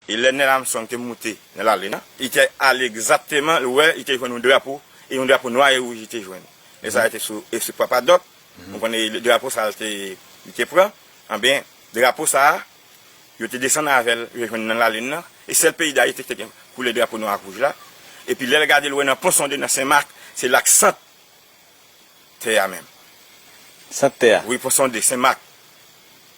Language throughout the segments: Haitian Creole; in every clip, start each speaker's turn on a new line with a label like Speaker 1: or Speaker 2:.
Speaker 1: E lè Nel Armstrong te moute nan lalin an, li te ale egzatteman, li wè, li te jwenn yon drapo, e yon drapo nwa e wouj li te jwenn. Nèg sa a te sou espri Papa Doc, nou konnen e drapo sa a li te, li te pran. Anben, drapo sa a, yo te desann avè l, yo jwenn li nan lalin nan, e sèl peyi Dayiti ki te gen koulè drapo nwa ak wouj la. Epi lè l gade l wè nan Ponsonde, nan Sen Mak, se la k sant. Tè a menm. Sant tè
Speaker 2: a? Wi, pou sonde, Sen
Speaker 1: Mak.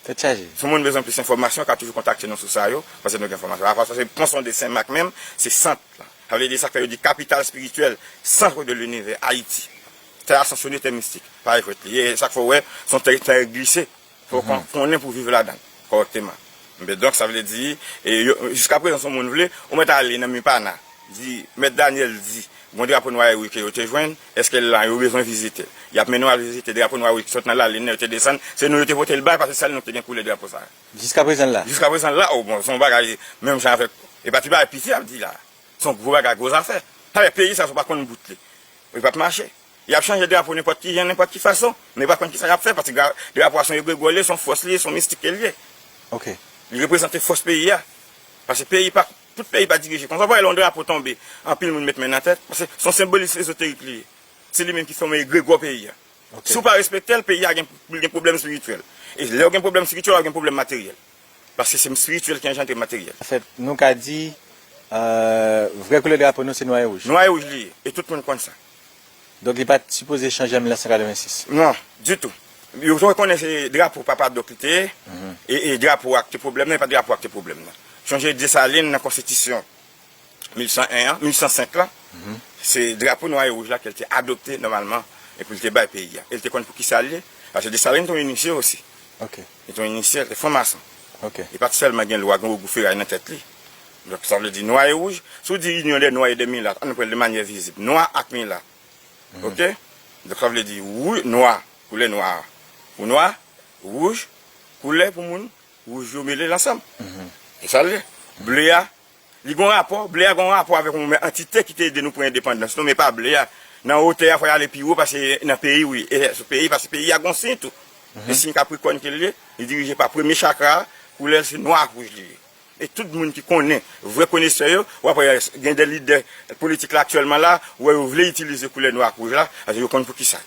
Speaker 1: Tèt
Speaker 2: chaje. Si moun bezwen plis enfòmasyon,
Speaker 1: ka toujou kontakte nou sou sa yo, paske nou gen enfòmasyon. Apa sa, se pon sonde Sen Mak menm, se sant la. Sa vle di, sa fè yo di kapital espirityèl, centre de l'univers, Ayiti. Tè a sanksyone tè mistik. Pa jwèt li ye. E sa k fè w wè, se yon tè ki trè glise. Fòk ou konnen pou viv ladan l kòrèkteman. Enben donk, sa vle di, jiskaprezan si yon moun vle, ou mèt ale nan MIPANA, di, Mèt Daniel di, gon drapo nwa e wi ke yo te jwenn, èske l lan, yo bezwen vizite l. Y ap mennen w al vizite drapo nwa e wi ki sot nan lalin nan, yo te desann, se nou yo te pote l bay, paske sèl nou ki te gen koulè drapo sa a. Jiskaprezan l la?
Speaker 2: Jiskaprezan l la, o bon, se
Speaker 1: yon bagay menm jan avèk, e pa ti bagay piti y ap di la a. Se yon gwo bagay, gwo zafè. Sa vle di peyi sa a si w pa konn bout li, li p ap mache. Y ap chanje drapo nenpòt ki jan, nenpòt ki fason, men yo pa konn ki sa y ap fè paske drapo a se yon egregò li ye, se yon fòs li ye, se yon mistik ke li ye.
Speaker 2: Li reprezante
Speaker 1: fòs peyi a. Paske peyi pa, tout peyi pa dirije konsa. Ou pa wè lè yon drapo tonbe, anpil moun met men nan tèt paske se yon senbolis ezoterik li ye. Se li menm ki fòme egregò peyi a. Si ou pa respekte l, peyi a gen, li gen pwoblèm espirityèl. E lè ou gen pwoblèm espirityèl, w ap gen pwoblèm materyèl. Paske se spirityèl ki anjandre materyèl. Anfèt, nou ka di,
Speaker 2: vrè koulè drapo nou se nwa e wouj. Nwa e wouj li ye, e tout
Speaker 1: moun konn sa. Donk li
Speaker 2: pa t sipoze chanje an 1986. Non, ditou.
Speaker 1: Yo te konnen se drapo papa Doc li te ye, e drapo a ki te pwoblèm nan, e pa drapo a ki te pwoblèm nan. Sonje Desalin nan konstitisyon 1801 an, 1805 lan, se drapo nwa e wouj la ke l te adopte nòmalman e pou l te bay peyi a. E l te konn pou ki sa l ye, paske Desalin te yon inisye osi. Ok. Li te yon
Speaker 2: inisye, li te
Speaker 1: fran mason. Li pa t
Speaker 2: sèlman gen lwa,
Speaker 1: gen ogou feray nan tèt li. Donk sa vle di nwa e wouj. Si w di inyon dè nwa e dè milat, an nou pran de manyè vizib, nwa ak milat. Ok? Donk sa vle di wou, nwa, koulè nwa a pou nwa, wouj, koulè pou moun wouj yo mele l ansanm. E sa l ye. Ble a. Li gon rapò, ble a gon rapò avèk yon antite ki te ede nou pran endepandans nou men pa ble a. Nan otè a fò y ale pi wo pase nan peyi wi. E sou peyi pase peyi a gon siy tou. E siy kaprikòn ke l ye, li dirije pa premye chakra a, koulè l se nwa ak wouj li ye. E tout moun ki konnen, vrè konesè yo, w ap wè gen de lidè politik la aktyèlman la, ou wè yo vle itilize koulè nwa ak wouj la, paske yo konn poukisa.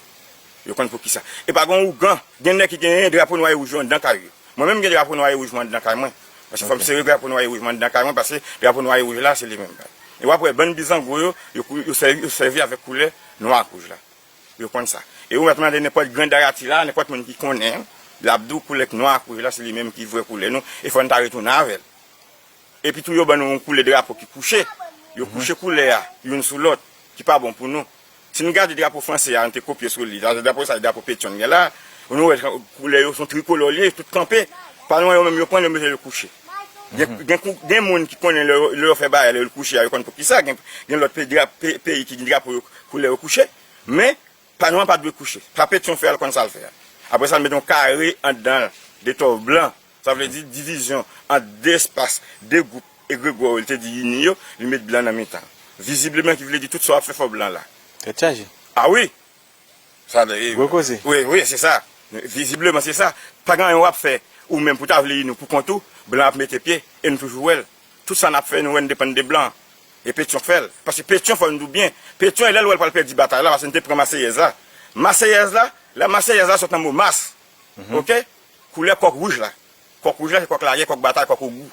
Speaker 1: Yo konn pou kisa. E pa gon ougan. Gen nèg ki gen drapo nwa e wouj yo anndan kay yo. Mwen menm m gen drapo nwa e wouj mwen anndan kay mwen. Paske fò m sere drapo nwa e wouj mwen anndan kay mwen paske drapo nwa e wouj la se li menm. E w ap wè bann bizango yo, yo sèvi avèk koulè nwa ak wouj la. Yo konn sa. E ou mèt mande nenpòt gran darati la, nenpòt moun ki konnen, l ap di w koulè nwa ak wouj la se li menm ki vrè koulè nou e fò n ta retounen avè l. Epi tou yo ban nou yon koulè drapo ki kouche, yo kouche koulè a youn sou lòt, ki pa bon pou nou. Si nou gade drapo franse a, nou te kopye sou li, sa vle di drapo sa, drapo Petion gen la, nou wè koulè yo son trikolò li ye, tout kanpe, pa lwen yo menm yo pran, yo mete yo kouche. Gen moun ki konnen lè yo fè bagay, lè yo kouche a, yo konn poukisa, gen lòt peyi ki gen drapo yo, koulè yo kouche, men, pa nou an pa dwe kouche. Sa Petion fè a, l konn sa l fè a. Apre sa l mete yon kare anndan l, de tòv blan, Sa vle di divizyon an de espas, de gwoup egregwa yo li te di ini yo, li met blan nan mitan. Vizibleman ki vle di tout sa w ap fè fò blan la. Tèt chaje.
Speaker 2: A wi!
Speaker 1: Sa vle di. Gwo koze. Wi, wi, se sa. Vizibleman se sa. Pa gen anyen w ap fè ou menm pou ta vle ini w pou kont ou, blan ap mete pye e nou toujou wè l. Tout sa n ap fè nou wè n depann de blan. E Petyon k fè l. Paske Petyon fò n di w byen, Petyon e lè l wè l pral pèdi batay la paske n te pran Maseyèz la. Maseyèz la, la Maseyèz la sot nan mo Mas. Ok? Koulè kòk wouj la. Kòk wouj la se kòk lagè, kòk batay, kòk ogou.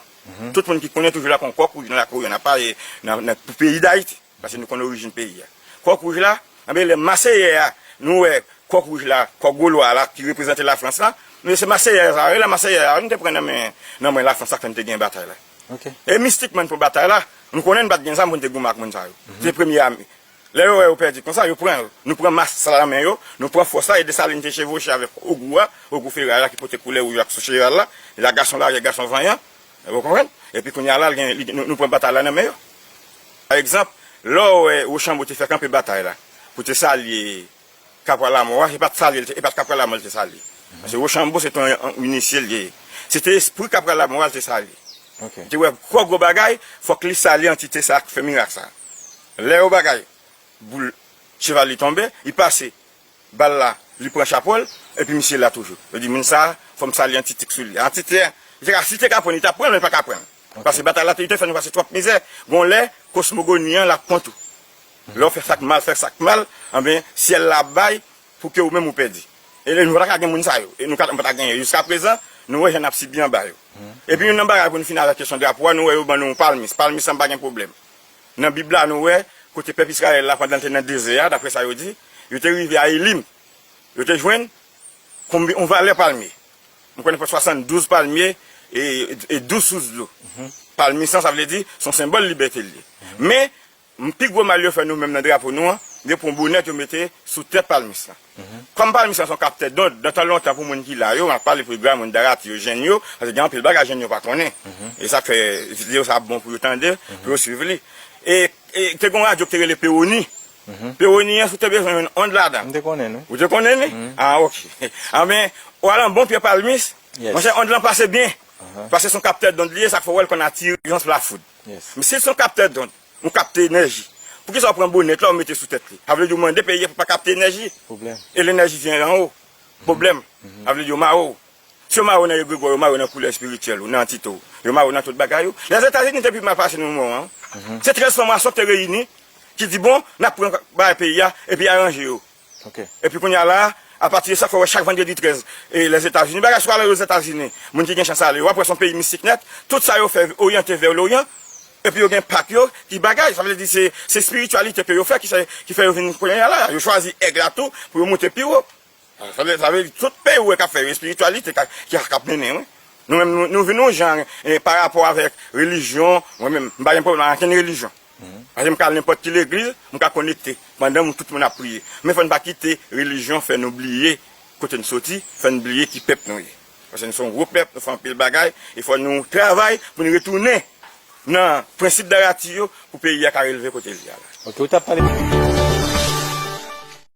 Speaker 1: Tout moun ki konnen toujou la konn kòk wouj nan lakou yo. N ap pale nan pou peyi Dayiti, paske nou konnen orijin peyi a. Kòk wouj la, anben lè Maseyè a, nou wè kòk wouj la, kòk Golwa a la ki reprezante Lafrans la. Men se Maseyè a, sa rele Maseyè a, nou te pran nan men Lafrans sak fè nou te gen batay la. E mistikman
Speaker 3: pou
Speaker 1: batay la, nou konnen nou pa t gen zam pou nou te goumen ak moun sa yo. Se premye ame. Lè yo wè yo pèdi konsa, yo pran l. Nou pran mas sa nan men yo, nou pran fòs la e Desalin te chevwoche avèk Ogou a, Ogou Feray la ki pote koulè wouj la sou cheval la, la gason lagè, gason vanyan. Ou konprann? Epi kounye a la, l gen, li, nou pran batay la nan men yo. Pa egzanp, lè w wè Wochanbo te fè kanpe batay la pou te salye Kapwa Lamò a, se pa t salye l te, e pa t Kapwa Lamò l te salye. Paske Wochanbo se te yon inisye l te ye. Se te espri Kapwa Lamò a l te salye. Li te wè
Speaker 3: gwo, gwo
Speaker 1: bagay, fòk li salye antite sa a k fè mirak sa a. Lè yo bagay boul cheval li tonbe, li pase bal la li pran chapo l epi misye la toujou. Yo di moun sa a fò m sali yon ti tik sou li. An ti tè, li te ka si li te ka pran l li t ap pran l men li pa ka pran l. Pase batay la li te fè nou pase twòp mizè. Gon lè kosmogoni an l ap kont ou. Lè w fè sa k mal fè sa k mal anben syèl la ap bay pou ke ou menm ou pèdi. E nou pa ta ka gen moun sa yo. E nou pa ta genyen yo. Jiska prezan nou wè jan n ap sibi anba yo. Epi youn nan bagay pou n fini avèk kesyon drapo a nou wè yo ban nou yon palmis. Palmis la m pa gen pwoblèm. Nan Bib la, nou wè kote pèp Izrayèl la pandan l te nan dezè a, daprè sa yo di, yo te rive a Elim. Yo te jwenn konbyen yon valè palmye. M konnen fè 72 palmye e 12 sous dlo. Palmye sa, sa vle di, s on senbòl libète l ye. Men, pi gwo mal yo fè nou menm nan drapo nou an, yo pran bonèt yo mete sou tèt palmye sa. Kòm pami sa son kaptè dond dan tan lontan pou moun ki la yo, map pale pou gra moun darati yo, jèn yo, paske gen anpil bagay jèn yo pa konnen. E sak fè video sa ap bon pou yo tande, pou yo swiv li. E te gen yon radyo ki te rele Pewoni. Pewoni an si w te bezwen yon ond ladan. M te konnen l wi. Ou te konnen
Speaker 2: li?
Speaker 1: A ok. Anben, ou al nan bon pye palmis, monchè ond lan pase byen. Paske son kaptè dond li ye, sak fè ou wè l konn atire yon flafoud. Men si l son kaptè dond, Nou kapte enèji. Poukisa ou pran bonet la ou mete sou tèt li? Sa vle di ou mande peyi a pou pa kapte enèji. Pwoblèm. E lenèji vyen an wo. Pwoblèm. Sa vle di yo mare w. Si yo mare w nan egregò, yo mare w nan koulè espirityèl ou, nan antite w. Yo mare w nan tout bagay ou. Lèzetazini te pi mal pase nou moman an. Se 13 franmasons ki te reyini, ki di bon, n ap pran bagay peyi a, epi aranje yo. Epi kounye a la, apati de sa, fè wè chak vandredi 13, Lèzetazini, bagay sou ale Lèzetazini, moun ki gen chans ale, wap wè son peyi mistik nèt, tout sa yo fè oryante vè loryan, epi yo gen pak yo ki bagay, sa vle di se espirityalite ke yo fè ki fè yo vin kounye a la, yo chwazi èg la tou pou yo moute pi wo. Sa vle di tout peyi ou wè kap fè yo espirityalite kap mennen wi. Nou menm nou vin yon jan parapò avèk relijyon, mwen menm m pa gen pwoblèm ak ankenn relijyon. Paske m ka al nenpòt ki legliz, m ka konekte pandan moun tout moun ap priye. Men fò n pa kite relijyon fè nou bliye kote n soti, fè n bliye ki pèp nou ye. Paske nou se yon gwo pèp, nou fè anpil bagay e fò nou travay pou n retounen nan prensip Darati yo
Speaker 2: pou
Speaker 1: peyi a ka releve kote
Speaker 2: l ye
Speaker 1: a la.